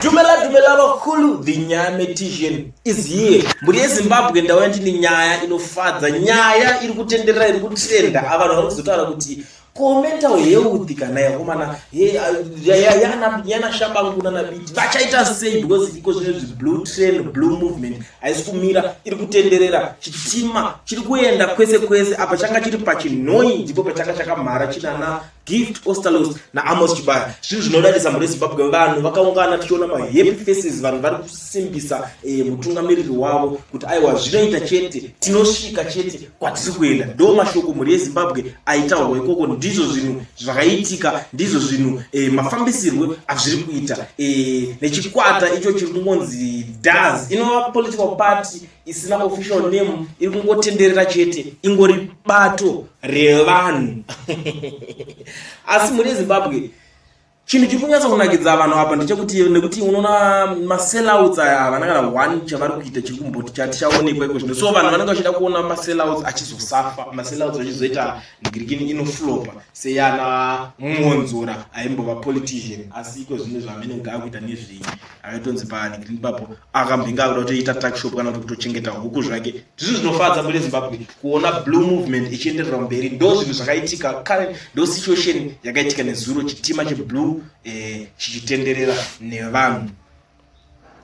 Dumela dumela vakulu the nyame tision is here mburi yezimbabwe ndauya ndine nyaya inofadza nyaya iri kutenderera iri kutrenda avanhu vari kuzotaura kuti komental health kana yakomana yana shabangu nana biti vachaita sei because iko zvine zveblue train blue movement haisi kumira iri kutenderera chitima chiri kuenda kwese kwese apa changa chiri pachinhoi ndipo pachanga chakamhara chinana Gift Ostalos na Amos Chibaya. Zvinhu zvinodadisa mhuri yeZimbabwe vanhu vakaungana tichiona ma happy faces vanhu vari kusimbisa eh, mutungamiriri wavo kuti aiwa zvinoita chete tinosvika chete kwatiri kuenda. Ndo mashoko mhuri yeZimbabwe aitaurwa ikoko ndizvo zvinhu zvakaitika ndizvo zvinhu eh, mafambisirwe azviri kuita eh, nechikwata icho chiri kungonzi DAS inova political party isina official name iri kungotenderera chete ingori bato revanhu asi mune zimbabwe chinhu chiri kunyatsa kunakidza vanhu apa ndechekuti nekuti unoona masellouts aya havana kana one chavari kuita chiri kumboti chatichaonekwa iko zvino so vanhu vanenge vachida kuona masellouts achizosafa masellouts achizoita ndigirikini inoflopa seyana mwonzora aimbova politician asi iko zvino zvaamene kugaa kuita nezvei aitonzi paani green papo akambinga akuda kutoita tuckshop kana kuti kutochengeta huku zvake zvinhu zvinofadza mune zimbabwe kuona blue movement ichienderera mberi ndo zvinhu zvakaitika current ndo situation yakaitika nezuro chitima cheblue eh, chichitenderera nevanhu